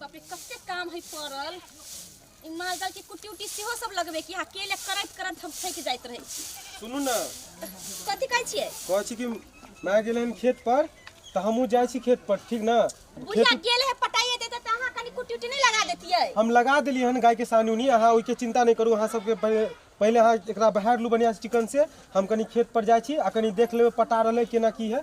बाप रे कते काम है पड़ल ई मालदल के कुट्टी उट्टी सेहो सब लगबे कि अकेले करैत करैत हम थक जाइत रहै छी सुनू ने कथी कहै छियै कहै छी कि माय गेलै हन खेत पर तऽ हमहूँ जाइ छी खेत पर ठीक ने बुझिया खेत गेले है पटाइए देते तऽ अहाँ कनी कुट्टी उट्टी नहीं लगा देतियै हम लगा देलियै हन गायके सानुनी अहाँ ओहिके चिन्ता नहि करू अहाँ सबके पहिले पहिले अहाँ एकरा बहारि लू बढ़िआँ चिकन से हम कनी खेत पर जाइ छी आ कनी देख लेबै पटा रहलै केना की है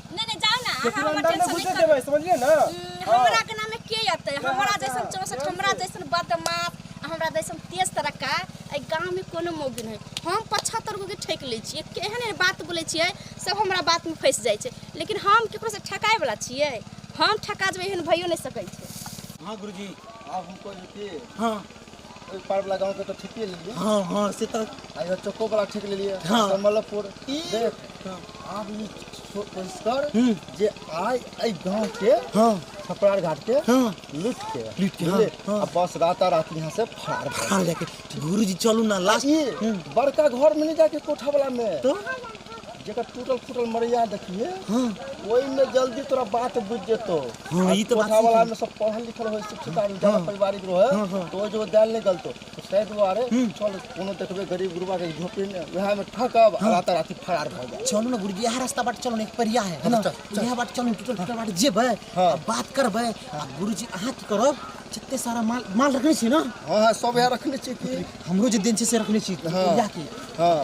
नहीं नहीं जाओ ना अहाँ हमर अंदर में टेंशन घुसे नहीं देबै समझलिए ना करू। हम्म, हमरा के नामे के अतै हमरा जैसन चौसठ हमरा जैसन बदमाश आ हमरा जैसन तेज तरक्का एहि गाँव में कोनो मौगी नहीं हम पचहत्तर गो के ठेक लै छियै के एहन एहन बात बोलै छियै सब हमरा बात में फंसि जाइ छै लेकिन हम केकरो से ठकाय वाला छियै हम ठका जेबै एहन भइयो नहि सकै छै हाँ गुरुजी आप हमको जो थे हाँ ओहि पारवला गाँवके तऽ ठीके लेलियै हँ हँ से तऽ आ इहो चौकोवला ठीक लेलियै हँ। कमलपुर ई देख हँ। आब ई सो- कोशिश कर हूँ। जे आइ एहि गाँवके हँ छपरार घाटके हँ लुट के लूट के, बुझलियै? हाँ, हाँ। आ बस राता रात यहाँ से फाड़ भए हाँ लेके गुरुजी चलू ना लास्ट ई बड़का घर में नहीं जाके कोठा वाला में तो जेकर टूटल फूटल मरैया देखिए हाँ वही में जल्दी तोरा बात बुझ जेतो हाँ ई तो बात वाला में सब पढ़ल लिखल हो शिक्षित आदमी ज्यादा हाँ। पारिवारिक रहे हाँ, हाँ। तो जो दैल नहीं गलतो तो शायद वो अरे हम्म। चल कोनो देखबे गरीब गुरबा के झोपड़ी में वह में ठकब हाँ। रात रात फरार भ जाए चलो ना गुरुजी यह रास्ता बाट चलो एक परिया है हाँ, ना यह बाट चलो टूटल फूटल बाट जेबे हाँ। बात करबे गुरुजी अहाँ की करब जितने सारा माल माल रखने छी ना हां हां सब यहाँ रखने छी हमरो जे दिन से रखने छी हां हां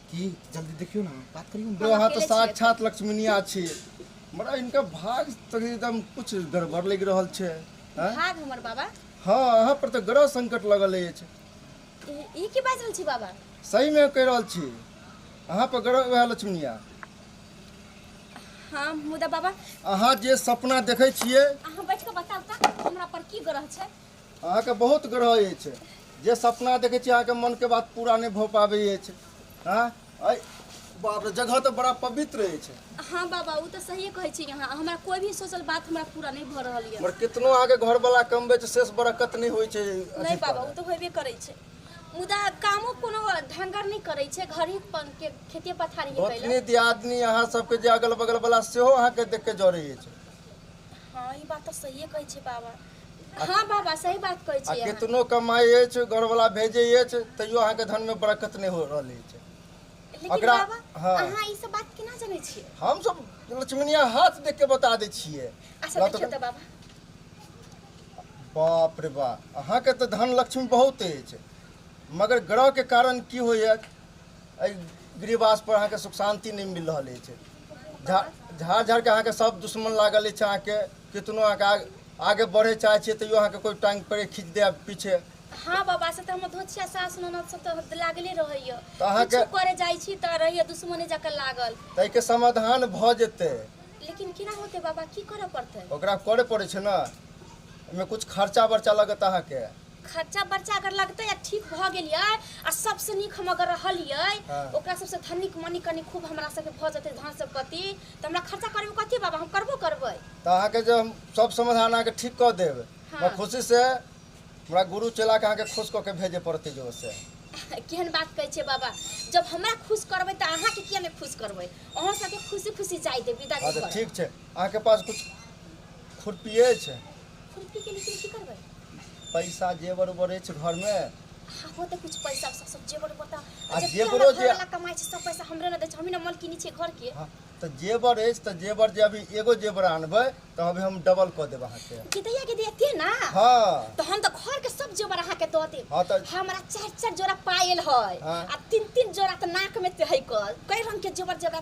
की जल्दी देखियो ना बात करियो ना यहाँ तो साक्षात लक्ष्मीनिया छी मरा इनका भाग तो एकदम कुछ गड़बड़ लग रहल छे हैं? भाग हमर बाबा हाँ यहाँ पर तो ग्रह संकट लगल अछि ई ई की बाजि रहल छी बाबा सही में कह रहल छी यहाँ पर ग्रह वह लक्ष्मीनिया हाँ मुदा बाबा अहाँ जे सपना देखै छियै अहाँ बैठ कऽ बताउ तऽ हमरा पर की ग्रह छै अहाँके बहुत ग्रह अछि जे सपना देखै छी अहाँके मनके बात पूरा नहि भऽ पाबै अछि हँ अइ बाप रे जगह तऽ बड़ा पवित्र अछि हाँ बाबा वो तो सही कहे छी यहाँ हमारा कोई भी सोचल बात हमारा पूरा नहीं भ रहा है मगर कितनो अहाँके घरवाला कमबै छै शेष बरकत नहि होइ छै नहीं बाबा वो तो होबे करे छे मुदा कामो कोनो ढंगर नहीं करे छे घर ही के खेती पथारी है पहले दियादनी अहाँ सबके जे अगल बगल वाला सेहो अहाँके देख के जरे अछि हाँ ई बात तो सही कहे छे बाबा हँ बाबा सही बात कहै छी आ केतनो कमाइ अछि घरवला भेजै अछि तैयो अहाँके धनमे बरकत नहि हो रहल अछि लेकिन बाबा हँ। अहाँ ई सब बात केना जनै छियै हमसभ लक्ष्मणिया हाथ देख के बता दै छियै अच्छा देखियौ तऽ बाबा बाप रे बा अहाँके तऽ धन लक्ष्मी बहुत अछि मगर ग्रहके कारण की होइए एहि गृहवासपर अहाँके सुख शान्ति नहि मिल रहल अछि झाड़ झाड़ झाड़के अहाँके सभ दुश्मन लागल अछि अहाँके कितनो अहाँके आग- आगे बढ़े चाहे छियै तैयो अहाँके कोई टांग पड़े खींच दे पीछे हाँ बाबा से तऽ हमर धोछिया सास ननद सब तऽ लागले रहैया तऽ अहाँके- किछु करे जाइ छी तऽ रहैया दुश्मने जकाँ लागल ताहि के समाधान भऽ जेतै लेकिन केना होते बाबा की करऽ पड़तै ओकरा करे पड़े छै ने एहिमे कुछ खर्चा बर्चा लगत अहाँके खर्चा बर्चा अगर लगतै आ ठीक भऽ गेलियै आ सबसँ नीक हम अगर रहलियै हाँ। ओकरा सबसँ धनिक मनी कनी खूब हमरा सबके भऽ जेतै धन सम्पत्ति तऽ हमरा खर्चा करैमे कथी बाबा हम करबो करबै तऽ अहाँके जे हम सब समाधान अहाँके ठीक कऽ देब हँ। हमरा खुशी से हमरा गुरु चेला के अहाँके खुश कऽ के भेजे पड़तै जो से केहन बात कहै छियै बाबा जब हमरा खुश करबै तऽ अहाँके किया नहि खुश करबै अहाँ सबके खुशी खुशी जाय देब विदा हँ के तऽ घर ठीक छै अहाँके पास कुछ खुरपी अछि पैसा जेवर उवर अछि घर में हो तऽ कुछ पैसा सब सब जेवर बता आ जब जेवरो हमरा जे- घर वाला कमाई छै सब पैसा हमरे ना दे छै हमी ना मलकिनी छै घर के हाँ, तऽ जेवर अछि तऽ जेवर जे अभी एगो जेवर आनबै तऽ अभी हम डबल कऽ देब अहाँके गिदैया गिदैया के ना हाँ तो हम तो घर के सब जेवर अहाँ के दऽ देब हाँ तऽ हमरा चार चार जोड़ा पायल है हाँ। आ तीन तीन जोड़ा तो नाक में ते है कल कई रंग के जेवर जेवर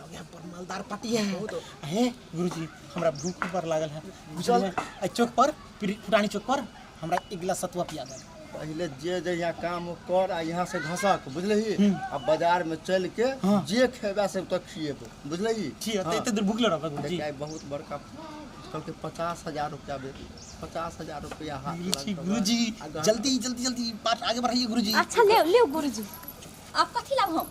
लगे पर मालदार पटी है हे गुरुजी हमरा भूख पर लागल है बुझल एहि चौक पर पुर- पुरानी चौक पर हमरा एक गिलास सतुआ पिया दे पहले जे जे यहाँ काम हो कर आ यहाँ से घसक बुझलही आ बाजार में चल के हाँ। जे खेबा से तो खिएबो बुझलही ठीक है हाँ। एते देर भूखले रहबे गुरुजी देखिए, बहुत बड़का कल के पचास हजार रुपया बे पचास हजार रुपया हाथ गुरुजी लगल। गुरुजी आ गहना- जल्दी जल्दी जल्दी बात आगे बढ़ाइए गुरुजी अच्छा ले ले गुरुजी आप कथी लाभ हम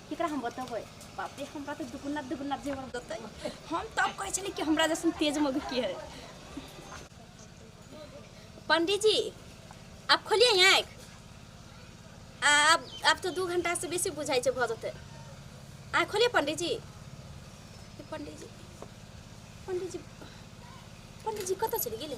केकरा हम बतेबै बाप रे हमरा तऽ दुगुना दुगुना जेवर देतै हम तब कहै छलियै कि हमरा जैसन तेज मौगी की है पंडित जी आप खोलिए आँख आ आब आब तऽ दू घंटासँ बेसी बुझाइ छै भऽ जेतै आँख खोलिए पंडित जी ए, पंडित जी पंडित जी पंडित जी कतऽ चलि गेलै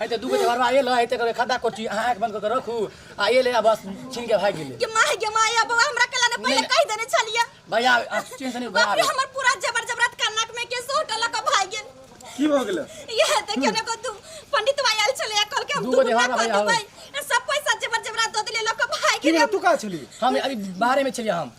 है त दुगो जगह आइए ल है त करे खाता कोठी आंख बंद करके रखू आइए ले आ बस छीन के भाग गेले गे माय गे माय अब हमरा कला ने पहले कह देने छलिए भैया आ, चीन से नहीं बाप रे भैया हमर पूरा जबर जबरत कानक में के सोट लक भाग गेल की भ गेलै यह देखियो ने को तू पंडित भाई आयल छले कल के हम दूगो दुगुना देवारा कर भैया हो। देबै सब पैसा जबर जबरत दो दिले लक भाग की गेल रे तू का छली हम अभी बाहरे में छलिए हम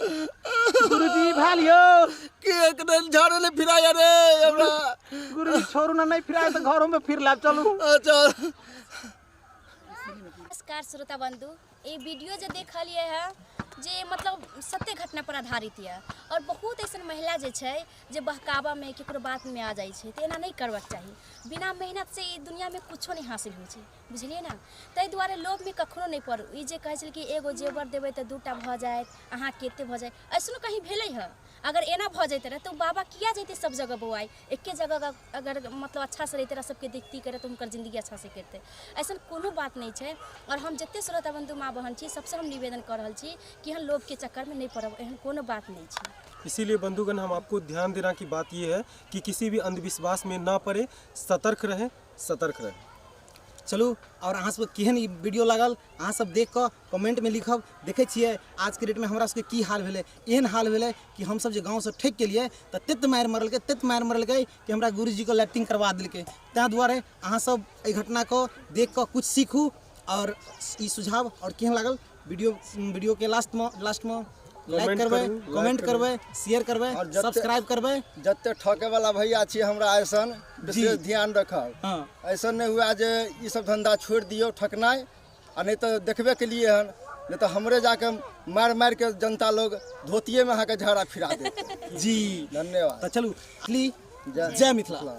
गुरुजी भा लियो के एकने झाड़े ले फिराया रे हमरा गुरुजी छोड़ू ना नहीं फिराए तो घरों में फिर लाब चलू अच्छा नमस्कार श्रोता बंधु ये वीडियो जो देखलिए है जे मतलब सत्य घटना पर आधारित यऽ और बहुत ऐसा महिला जे छै जे बहकावा में केकरो बात में आ जाइ छै तऽ एना नहि करबाक चाही बिना मेहनत से ई दुनिया में कुछो नहि हासिल होइ छै बुझलियै ने ताहि दुआरे लोभमे कखनो नहि पड़ू ई जे कहै छलै कि एगो जेवर देबै तऽ दूटा भऽ जायत अहाँ कते भऽ जायत ऐसनो कहीं भेलै हँ अगर एना भऽ जैते रहे तऽ बाबा किया जैते सब जगह बौआइ एके जगह अगर मतलब अच्छासँ रहिते रहे सबके देखती करे तऽ हुनकर जिन्दगी अच्छासँ करते ऐसा कोनो बात नहि छै आओर हम जते श्रोता बंधु माँ बहन छी सबसँ हम निवेदन कऽ रहल छी कि हम लोभके चक्करमे नहि पड़ब एहन कोनो बात नहि छै इसीलिए बंधुगण हम आपको ध्यान देना की बात यह है कि किसी भी अंधविश्वास में ना पड़े सतर्क रहें सतर्क रहै चलू आओर अहाँ सबके केहन ई वीडियो लागल अहाँ सब देख कऽ कमेंट में लिखब देखै छियै आज के डेट में हमरा सबके की हाल भेलै एहन हाल भेलै कि हम सब जे गाँव से ठेक केलियै तऽ तेत मारि मरलकै तेत मारि मरलकै कि हमरा गुरुजी के लैट्रिन करवा देलकै ताहि दुआरे अहाँ सब एहि घटना को देख कऽ कुछ सीखू आओर ई सुझाव आओर केहन लागल वीडियो वीडियो के लास्ट में लास्ट में लाइक Comment करबै करू, like कमेंट करू। करबै शेयर करबै और जते- सब्सक्राइब करबै जते ठके वाला भैया छी हमरा ऐसन विशेष ध्यान रखब हाँ ऐसा नहीं हुआ जे ई सब धंधा छोड़ दियो ठकनाई आ नहीं तो देखबे के लिए हन नहीं तो हमरे जाके मार मार के जनता लोग धोतिये में अहाँ के झाड़ा फिरा देते जी धन्यवाद तो चलू ली जय- जय मिथिला